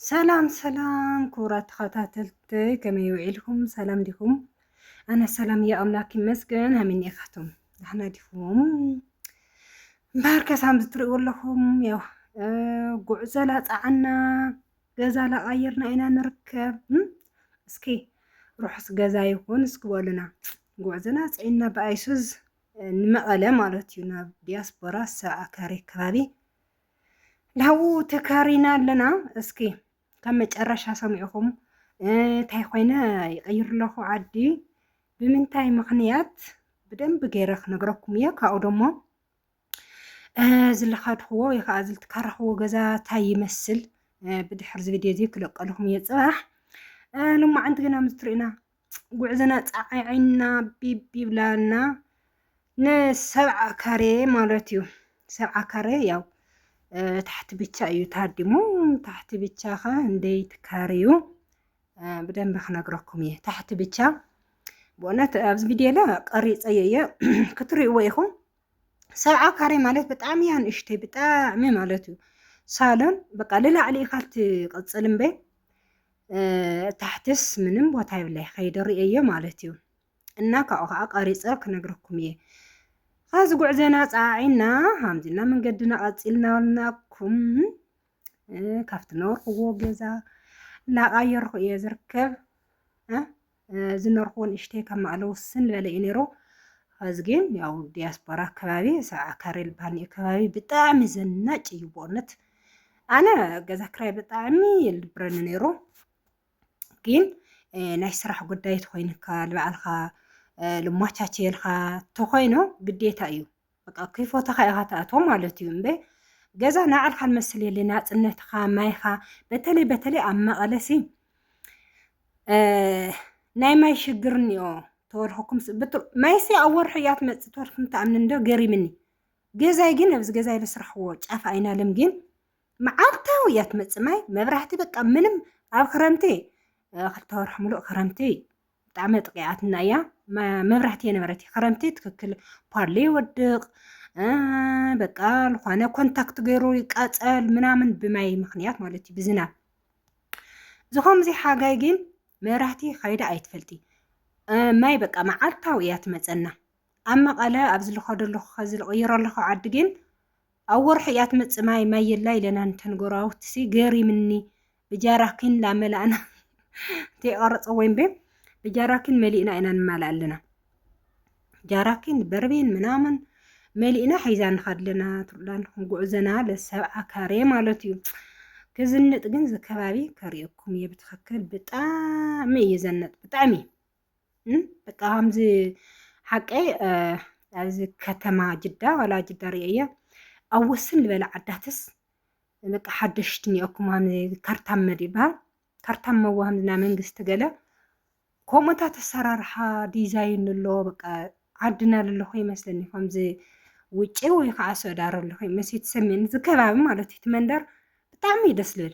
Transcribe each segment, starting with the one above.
ሰላም ሰላም ክቡራት ተኸታተልተይ ከመይ ውዒልኩም ሰላም ዲኹም? ኣነ ሰላም እየ ኣምላክ ይመስገን። ኣሚን ኢኻቶም ዳሕና ዲኹም? እምበኣር ከሳም ዝትርእዎ ኣለኹም ያው ጉዕዞ ላፃዓና ገዛ ላቐይርና ኢና ንርከብ። እስኪ ርሑስ ገዛ ይኹን እስኪ በሉና። ጉዕዞ ናፅዒና ብኣይሱዝ ንመቐለ ማለት እዩ ናብ ዲያስፖራ ሰብዓ ካሬ ከባቢ ናብኡ ተካሪና ኣለና እስኪ ካብ መጨረሻ ሰሚዕኹም እንታይ ኮይነ ይቕይር ኣለኹ ዓዲ ብምንታይ ምኽንያት ብደንብ ገይረ ክነግረኩም እየ ካብኡ ደሞ ዝለኻድኽዎ ወይ ከዓ ዝልትካረኽዎ ገዛ እንታይ ይመስል ብድሕር እዚ ቪድዮ እዚ ክለቀልኹም እየ ፅባሕ ልማዓንቲ ግና ምስ ትርእዩና ጉዕዝና ፃዒዕና ቢብ ይብላና ንሰብዓ ካሬ ማለት እዩ። ሰብዓ ካሬ ያው ታሕቲ ብቻ እዩ ታዲሙ ታሕቲ ብቻ ከ እንደይ ትካርዩ ብደንብ ክነግረኩም እየ ታሕቲ ብቻ ብእውነት ኣብዚ ቪድዮ ላ ቀሪፀዮ እየ ክትሪእዎ ኢኹም ሰብዓ ካሬ ማለት ብጣዕሚ እያ ንእሽተይ ብጣዕሚ ማለት እዩ ሳሎን በቃ ልላዕሊ ኢኻ ትቕፅል እምበይ ታሕትስ ምንም ቦታ የብለይ ከይደ ርእየዮ ማለት እዩ እና ካብኡ ከዓ ቀሪፀ ክነግረኩም እየ ኸዚ ጉዕዘና ፀዓዒና ሃምዚና መንገድና ቀፂልና ወልናኩም ካብቲ ነበርክዎ ገዛ እናቃየርኩ እየ ዝርከብ ዝነርኩዎ ንእሽተይ ካብ ማእለ ውስን ዝበለ እዩ ነይሩ ኸዚ ግን ያው ዲያስፖራ ከባቢ ሰብዓ ካሬ ልባኒ እዩ ከባቢ ብጣዕሚ ዘናጭ እዩ ብእውነት ኣነ ገዛ ክራይ ብጣዕሚ ይልብረኒ ነይሩ ግን ናይ ስራሕ ጉዳይ ተኮይንካ ንባዕልካ ልሟቻቸየልካ ተኮይኑ ግዴታ እዩ በቃ ክፎተኻ ኢኻ ትኣትዎ ማለት እዩ እምበ ገዛ ናዕልካ ንመስል የለ ናፅነትኻ ማይኻ በተለይ በተለይ ኣብ መቐለሲ ናይ ማይ ሽግር እኒኦ ተወርኽኩም ማይሲ ኣብ ወርሒ እያ ትመፅእ ተወርኽኩም ተኣምን እንዶ ገሪምኒ ገዛይ ግን ኣብዚ ገዛይ ዝስራሕዎ ጫፍ ኣይናለም ግን መዓልታዊ እያ ትመፅእ ማይ መብራህቲ በቃ ምንም ኣብ ክረምቲ ክልተ ወርሒ ሙሉእ ክረምቲ ብጣዕሚ ኣጥቂዓትና እያ መብራህቲ የነበረት ክረምቲ ትክክል ፓሎ ይወድቅ በቃ ልኳነ ኮንታክት ገይሩ ይቃፀል ምናምን ብማይ ምክንያት ማለት እዩ ብዝናብ ዝኾምዚ ሓጋይ ግን መብራህቲ ከይዳ ኣይትፈልጢ ማይ በቃ መዓልታዊ እያ ትመፀና ኣብ መቐለ ኣብ ዝልኸደለኹ ከዚ ዝቕይረለኹ ዓዲ ግን ኣብ ወርሑ እያ ትመጽእ ማይ ማይ የላ ኢለና እንተን ጎረባብትሲ ገሪምኒ ብጃራኪን ላመላእና ተይቐረጸ ወይም ቤ ብጃራኪን መሊእና ኢና ንማላእ ኣለና ጃራኪን በርቤን ምናምን መሊእና ሒዛ ንኸድ ኣለና ትብላን ጉዕዘና ለሰብዓ ካሬ ማለት እዩ ክዝንጥ ግን ዝከባቢ ከርእየኩም እየ ብትኽክል ብጣዕሚ እዩ ዘነጥ ብጣዕሚ በቃ ከምዚ ሓቂ ኣብዚ ከተማ ጅዳ ዋላ ጅዳ ርእየ ኣብ ወስን ዝበለ ዓዳትስ በቃ ሓደሽቲ እኒኦኩም ካርታን መድ ይበሃል ካርታን መዋህም ናይ መንግስቲ ገለ ከምኡታት ኣሰራርሓ ዲዛይን ኣሎ በቃ ዓድና ዘለኹ ይመስለኒ ከምዚ ውጭ ወይ ከዓ ሱዕዲ ዓረብ ኣለኹ መስ ትሰሚኒ እዚ ከባቢ ማለት እዩ እቲ መንደር ብጣዕሚ እዩ ደስ ልብል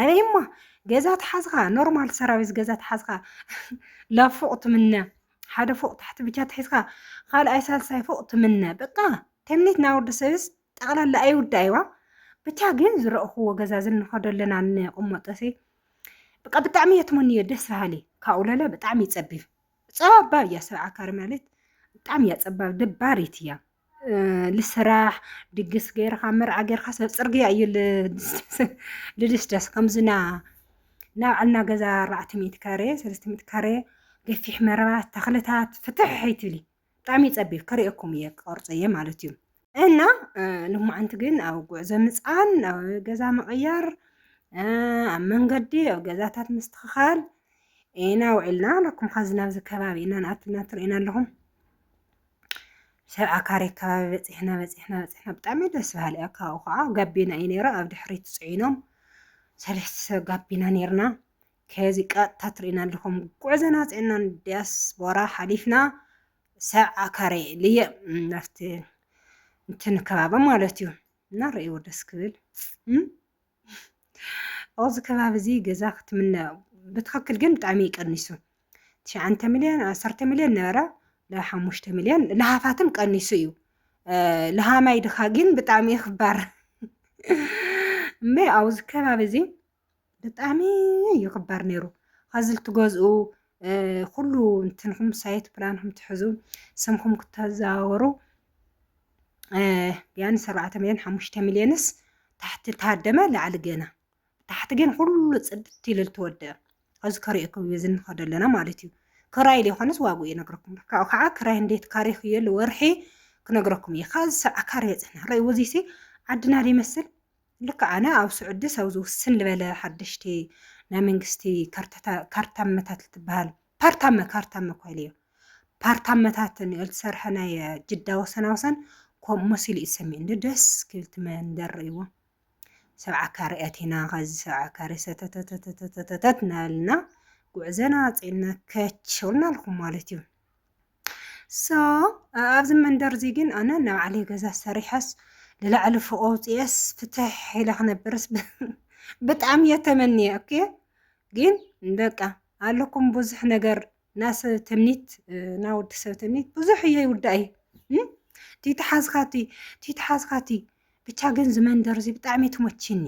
ኣበይማ ገዛ ተሓዝኻ ኖርማል ሰራዊት ገዛ ተሓዝኻ ላብ ፎቅ ትምነ ሓደ ፎቅ ታሕቲ ብቻ ትሒዝካ ካልኣይ ሳልሳይ ፎቅ ትምነ በቃ ተምኒት ናይ ወዲ ሰብስ ጠቕላላ ኣይውዳእ ይዋ ብቻ ግን ዝረእኽዎ ገዛ ዝንኸዶ ኣለና ንቕመጦሲ በቃ ብጣዕሚ እየ ትመንዮ ደስ በሃሊ ካብኡ ለለ ብጣዕሚ ይፀቢብ ፀባብ እያ ሰብዓ ካሬ ማለት ብጣዕሚ እያ ፀባብ ደባሪት እያ ልስራሕ ድግስ ገይርካ መርዓ ገይርካ ሰብ ፅርግያ እዩ ልድስደስ ከምዝና ናብ ዕልና ገዛ ኣርባዕተ ሚእቲ ካሬ ሰለስተ ሚእቲ ካሬ ገፊሕ መረባ ተኽልታት ፍትሕ ኣይትብሊ ብጣዕሚ ይፀቢብ ከርእየኩም እየ ክቐርፆ እየ ማለት እዩ እና ልማዓንቲ ግን ኣብ ጉዕዞ ምፃን ኣብ ገዛ ምቕያር ኣብ መንገዲ ኣብ ገዛታት ምስትኽኻል ኢና ውዒልና ኣለኩም ኸዚ ናብዚ ከባቢ ኢና ንኣትና ትርእዩና ኣለኹም ሰብ ዓካሪ ከባቢ በፂሕና በፂሕና በፂሕና ብጣዕሚ ደስ በሃሊ እያ ካብኡ ከዓ ጋቢና እዩ ነይሩ ኣብ ድሕሪት ፅዒኖም ሰለስተ ሰብ ጋቢና ነይርና ከዚ ቀጥታ ትርእና ኣለኹም ጉዕዘና ፅዕናን ዲያስፖራ ሓሊፍና ሰብ ዓካሪ ልየ ናፍቲ እንትን ከባቢ ማለት እዩ እና ርእይዎ ደስ ክብል ኣብዚ ከባቢ እዚ ገዛ ክትምነ ብትክክል ግን ብጣዕሚ እዩ ቀኒሱ ትሽዓንተ ሚልዮን ዓሰርተ ሚልዮን ነበረ ሓሙሽተ ሚልዮን ለሃፋትም ቀኒሱ እዩ ለሃማይ ድኻ ግን ብጣዕሚ እዩ ክባር እመ ኣብዚ ከባቢ እዚ ብጣዕሚ እዩ ክባር ነይሩ ከዚ ልትገዝኡ ኩሉ እንትንኹም ሳይት ፕላንኹም ትሕዙ ስምኹም ክተዘዋወሩ ቢያንስ ኣርባዕተ ሚልዮን ሓሙሽተ ሚልዮንስ ታሕቲ ተሃደመ ላዕሊ ገና ታሕቲ ግን ኩሉ ፅድት ኢሉ ተወደአ ኣብዚ ከሪኦኩም እዩ ዝንኸዶ ኣለና ማለት እዩ ክራይ ዘይኮነስ ዋግኡ ይነግረኩም ካብኡ ከዓ ክራይ እንዴት ካሬ ክየሉ ወርሒ ክነግረኩም እየ ካብዚ ሰብዓ ካሬ በፅሕና ረእይዎ እዚሲ ዓድና ዘይመስል ልክ ኣነ ኣብ ስዑዲ ሰብዚ ውስን ዝበለ ሓደሽቲ ናይ መንግስቲ ካርታ መታት ትበሃል ፓርታመ ካርታመ ኮይሉ እዩ። ፓርታመታት ንዮ ዝተሰርሐ ናይ ጅዳ ወሰና ወሰን ከምኡ መሲሉ እዩ ሰሚዑ እንዶ ደስ ክብል እቲ መንደር ርእይዎ ሰብዓ ካሬ ኣቲና ከዚ ሰብዓ ካሬ ሰተተተተተተተት እናበልና ጉዕዘና ኣፅዕና ከች ልና ኣለኹም ማለት እዩ። ሶ ኣብዚ መንደር እዚ ግን ኣነ ናብ ዓለይ ገዛ ሰሪሐስ ንላዕሊ ፎቆ ውፅኤስ ፍትሕ ኢለ ክነብርስ ብጣዕሚ እየ ተመንየ ኦኬ ግን በቃ ኣለኩም ብዙሕ ነገር ናሰብ ትምኒት ና ወዲ ሰብ ትምኒት ብዙሕ እየ ይውዳእ እዩ ቲተሓዝካቲ ቲተሓዝካቲ ብቻ ግን ዝመንደር እዚ ብጣዕሚ ትሞችኒ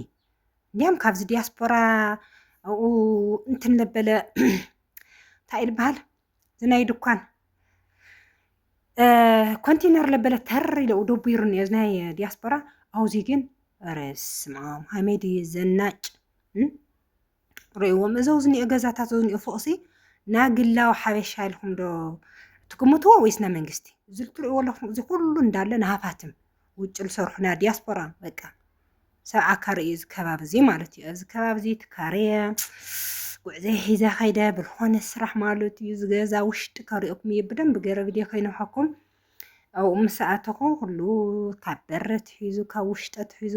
እንዲያም ካብዚ ዲያስፖራ ኣብኡ እንትን ለበለ እንታይ ዝበሃል እዚ ናይ ድኳን ኮንቴነር ለበለ ተር ኢለ ደቡይሩኒ እዚ ናይ ዲያስፖራ ኣውዚ ግን ረስማም ሃመይ ድዩ ዘናጭ ርእዎም እዚ ኣብዚ ዝኒኦ ገዛታት እዚ ዝኒኦ ፎቕሲ ናይ ግላዊ ሓበሻ ኢልኩም ዶ ትግምትዎ ወይስ ናይ መንግስቲ? እዚ እትርእይዎ ኣለኹም እዚ ኩሉ እንዳለ ንሃፋትም ውጭ ዝሰርሑ ናይ ዲያስፖራ በቃ ሰብ ዓካሪ እዩ እዚ ከባቢ እዚ ማለት እዩ። ኣብዚ ከባቢ እዚ ትካረየ ጉዕዘይ ሒዘ ከይደ ብዝኾነ ስራሕ ማለት እዩ እዚ ገዛ ውሽጢ ከርእየኩም እየ ብደንብ ገይረ ቪድዮ ከይነውሓኩም ኣብኡ ምስ ኣተኹ ኩሉ ካብ በሪ ትሒዙ ካብ ውሽጢ ትሒዙ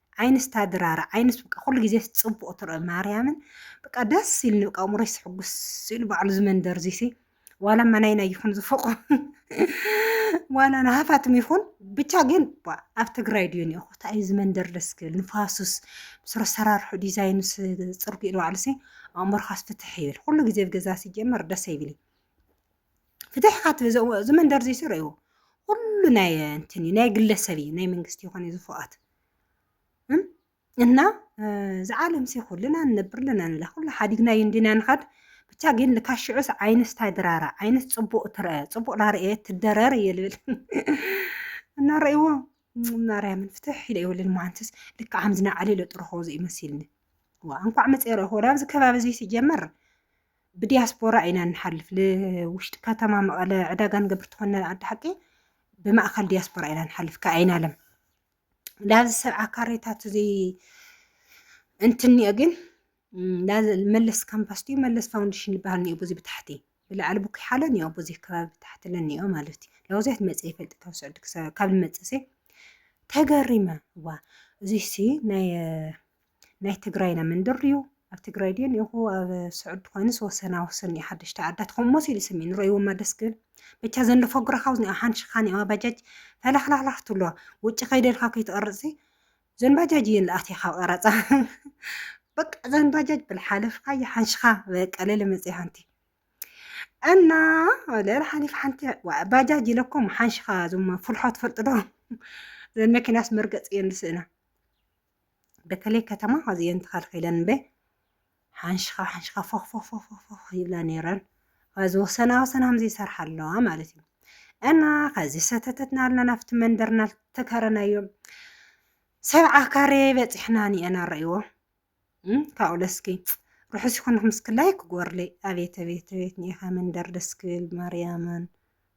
ዓይንስ ታድራራ ዓይንስ በቃ ኩሉ ግዜ ጽቡቅ ትርኢ ማርያምን በቃ ደስ ኢልኒ በቃ እምሮይ ስሕጉስ ኢሉ ባዕሉ ዝመንደር ዚሲ ዋላ መናይና ይኹን ዝፈቆ ዋላ ንሃፋትም ይኹን ብቻ ግን ኣብ ትግራይ ድዩ ኒኹ ታይ እዩ ዝመንደር ደስ ክብል ንፋሱስ ምስ ኣሰራርሑ ዲዛይኑስ ጽርጉ ኢሉ ባዕሉሲ ኣእምሮኻስ ፍትሕ ይብል ኩሉ ግዜ ኣብ ገዛ ሲጀመር ደስ ይብል ፍትሕ ካት ዝመንደር ዚሲ ርእይዎ ኩሉ ናይ እንትን እዩ ናይ ግለሰብ እዩ ናይ መንግስቲ ይኾን እዩ ዝፎኣት እና እዚ ዓለም ሲ ኩልና ንነብር ኣለና ንላ ኩሉ ሓዲግና እዩ እንዲና ንኻድ ብቻ ግን ልካ ሽዑስ ዓይንስ ታይ ድራራ ዓይንስ ፅቡቅ ትርአ ፅቡቅ ላርኤ ትደረር እየ ልብል እና ረእዎ ማርያምን ፍትሕ ኢለ ይብልን መሃንትስ ልካ ሓምዝና ዓሊ ለጥርኾ ዘኢመሲልኒ ዋ እንኳዕ መፅኦ ረእኹ ናብዚ ከባቢ እዚ ሲጀመር ብዲያስፖራ ኢና ንሓልፍ ልውሽጢ ከተማ መቐለ ዕዳጋ ንገብር ተኾነ ኣዲ ሓቂ ብማእኸል ዲያስፖራ ኢና ንሓልፍ ከኣይን ኣለም ላዚ ሰብዓ ካሬታት እዚ እንትንኦ ግን መለስ ካምፓስ ድዩ መለስ ፋውንዴሽን ዝበሃል ኒኦ ብዙ ብታሕቲ ብላዕሊ ቡክ ሓለ ኒኦ ብዙ ከባቢ ብታሕቲ ለኒኦ ማለት እዩ ለውዚያት መፀ ይፈልጥ ካብ ስዑዲ ካብ ልመፅእ ተገሪመ ዋ እዚሲ ናይ ናይ ትግራይና መንደርዩ ኣብ ትግራይ ድዩ ኒኹ ኣብ ስዑድ ኮይንስ ወሰና ወሰን እዩ ሓደሽቲ ዓዳት ከምሞ ሲሉ ስሚን ንረይዎማ ደስ ክብል ብቻ ዘንዶ ፈጉራ ካብዝ ሓን ሽኻን እዋ ባጃጅ ፈላሕላሕላሕ ትብሎ ውጭ ከይደልካ ከይትቐርፅ ዘን ባጃጅ እየን ዝኣትያ ካብ ቐረፃ በቃ ዘን ባጃጅ ብልሓለፍካ ይሓንሽኻ በቃ ለለ መፅኢ ሓንቲ እና ለለ ሓሊፍ ሓንቲ ባጃጅ ኢለኩም ሓንሽኻ ዞም ፍልሖ ትፈልጥዶ ዘን መኪናስ መርገፂ እየን ዝስእና በተለይ ከተማ ኣዝየን ተኸልኺለን እምበይ ሓንሽኻ ሓንሽኻ ፎኽፎኽፎኽፎኽ ይብላ ነይረን ኸዚ ወሰና ወሰና ከምዚ ይሰርሓ ኣለዋ ማለት እዩ እና ከዚ ሰተተትና ኣልና ናብቲ መንደርና ተከረናዮ ሰብዓ ካሬ በፂሕና ኒአና ረእይዎ ካብኡ ለስኪ ርሑስ ይኹንኩም እስኪ ላይክ ጎርለይ ኣቤት ኣቤት ኣቤት ኒኢኻ መንደር ደስ ክብል ማርያምን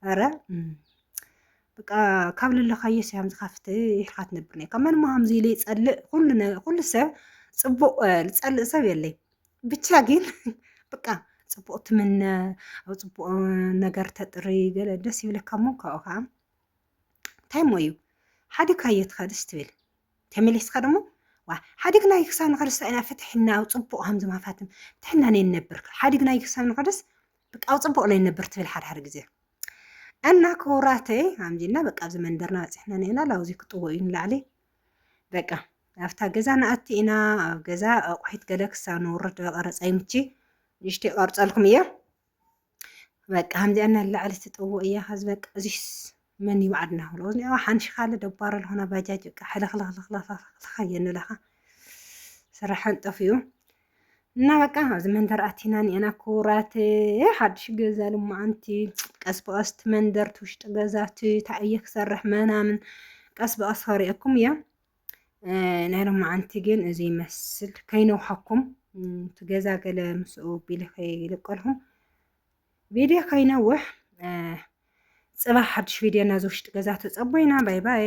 ኧረ በቃ ካብ ልለኻዮ ሰያም ዝኸፍት ይሕካ ትነብር ነካ መን መሃምዚ ኢለ ይፀልእ ኩሉ ሰብ ፅቡቅ ዝፀልእ ሰብ የለይ ብቻ ግን በቃ ፅቡቅ ትምነ ኣብ ፅቡቅ ነገር ተጥሪ ገለ ደስ ይብለካ እሞ ካብኡ ከዓ እንታይ ሞ እዩ ሓደ ካየ ትኸድስ ትብል ተመሊስካ ደሞ ዋ ሓዲግና ክሳብ ንኸደስ ኢና ፍትሕና ኣብ ፅቡቅ ሃምዚ ማፋትም ፍትሕና ነይነብር ሓዲግና ክሳብ ንኸደስ በቃ ኣብ ፅቡቅ ናይ ነብር ትብል ሓደ ሓደ ግዜ እና ክቡራተይ ኣምጂና በቃ ኣብዚ መንደርና በፂሕና ነና ላውዚ ክጥዎ እዩ ንላዕሊ በቃ ኣብታ ገዛ ንኣቲ ኢና ኣብ ገዛ ኣቑሒት ገለ ክሳብ ንውርድ ቀረፃ ይምቺ ንእሽተይ ቀርፀልኩም እየ በቃ ከምዚኣ እናላዕሊ ትጥዎ እያ ከዚ በቃ እዚስ መን እዩ ባዕድና ክብሎ እዝኒ ኣዋ ሓንሽኻለ ደባሮ ልኾና ባጃጅ በቃ ሕልኽልኽልኽልኽልኽ የንብለኻ ስራሕን ጠፍኡ እና በቃ ኣብዚ መንደር ኣቲና ኒአና ክቡራት ሓድሽ ገዛ ልማዓንቲ ቀስ ብቀስ እቲ መንደር እቲ ውሽጢ ገዛ እቲ እንታይ እየ ክሰርሕ መናምን ቀስ ብቀስ ከሪአኩም እየ ናይ ልማዓንቲ ግን እዚ ይመስል ከይነውሓኩም እቲ ገዛ ገለ ምስኡ ቢለ ከይልቀልኩም ቪድዮ ከይነውሕ ፅባሕ ሓድሽ ቪድዮ ናዚ ውሽጢ ገዛ ተፀቦይና ባይ ባይ